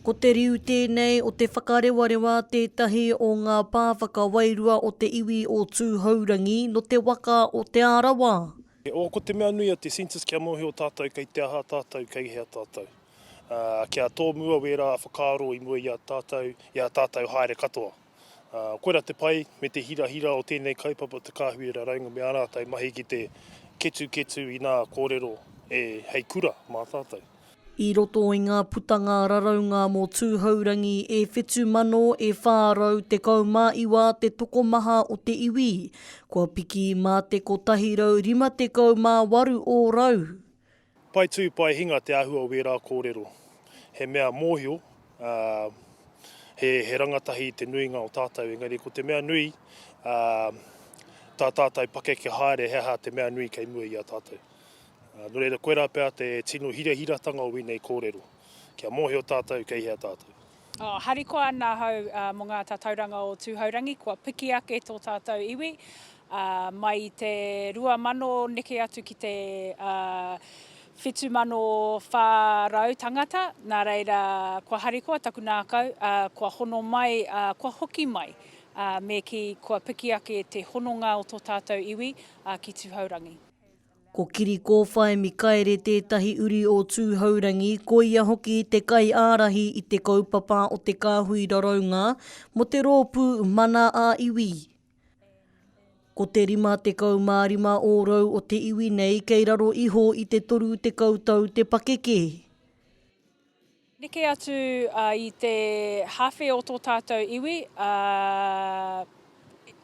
Ko te riu tēnei o Te Whakarewarewa tētahi o ngā pā whakawairua o te iwi o Tūhourangi nō te waka o Te Arawa. He ōko te mea nui a te census kia mōhio tātou kei te aha tātou, kei hea tātou. Ā, kia tōmua wērā whakaaro i mua i a tātou, i a tātou haere katoa. Koirā te pai me te hirahira o tēnei kaupapa Te Kāhui Raraunga me ā rātou mahi ki te ketuketu inā kōrero e hei kura mā tātou. I roto i ngā putanga raraunga mō Tūhourangi e 7,000, e 419 te tokomaha o te iwi, kua piki mā te 158 ōrau. Pae tū, pae hinga te āhua o wērā kōrero. He mea mōhio, ā, he, he rangatahi i te nuinga o tātou, engari ko te mea nui, ā, tā tātou pakeke haere he aha te mea nui kei mua i a tātou. Ā, nō reira, koirā pea te tino hirahiratanga o ēnei kōrero, kia mōhio tātou kei hea tātou. Oh, harikoa ana ahau mō ngā tatauranga o Tūhourangi, kua piki ake tō tātou iwi, mai i te 2000 neke atu ki te 7400 tangata, nā reira kua harikoa taku nākau, kua hono mai, kua hoki mai, me kī, kua piki ake te hononga o tō tātou iwi ki Tūhourangi. Ko Kirikōwhai Mikaere tētahi uri o Tūhourangi, koia hoki te kaiārahi i te kaupapa o te kāhui raraunga mō te rōpū Mana ā Iwi. Ko te 55 ōrau o te iwi nei kei raro iho i te 30 tau te pakeke. Neke atu i te hawhe o tō tātou iwi, ā,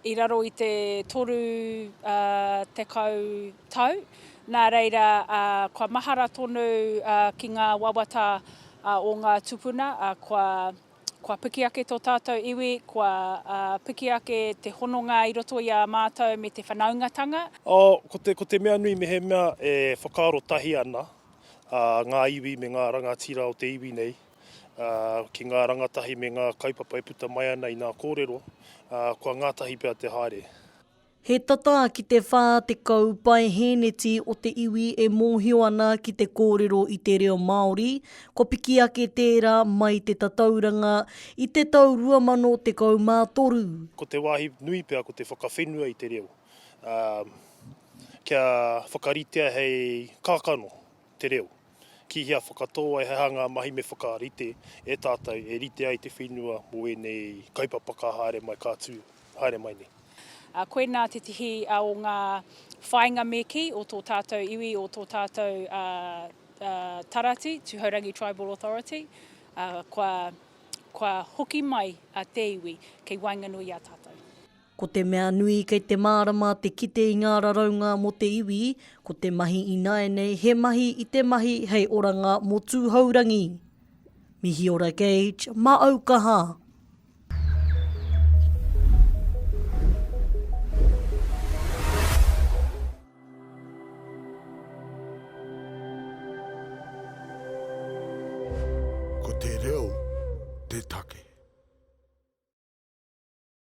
i raro i te toru tekau tau, nā reira, kua mahara tonu ki ngā wawata o ngā tupuna, kua, kua piki ake tō tātou iwi, kua piki ake te hononga i roto i a mātou me te whanaungatanga. Ā, ko te, ko te mea nui mehemea e whakaaro tahi ana, a ngā iwi me ngā rangatira o te iwi nei, ā, ki ngā rangatahi me ngā kaupapa e puta mai ana i nā kōrero, ā, kua ngātahi pea te haere. He tata ki te 40 pae hēneti o te iwi e mōhio ana ki te kōrero i te reo Māori, kua piki ake tērā mai te tatauranga i te tau 2013. Ko te wāhi nui pea ko te whakawhenua i te reo, ā, kia whakaritea hei kākano te reo, ki hea whakatō ai, he aha ngā mahi me whakarite e tātou e rite ai te whenua mō ēnei kaupapa ka haere mai, ka tū haere mai nei. Koinā tētehi o ngā whāinga me kī o tō tātou iwi, o tō tātou tarati, Tūhourangi Tribal Authority, kua hoki mai te iwi kei waenganui i a tātou. Ko te mea nui kei te mārama te kite i ngā raraunga mō te iwi, ko te mahi ināianei he mahi i te mahi hei oranga mō Tūhourangi. Mihiora Gage, mā au ka hā! Ko te reo te take.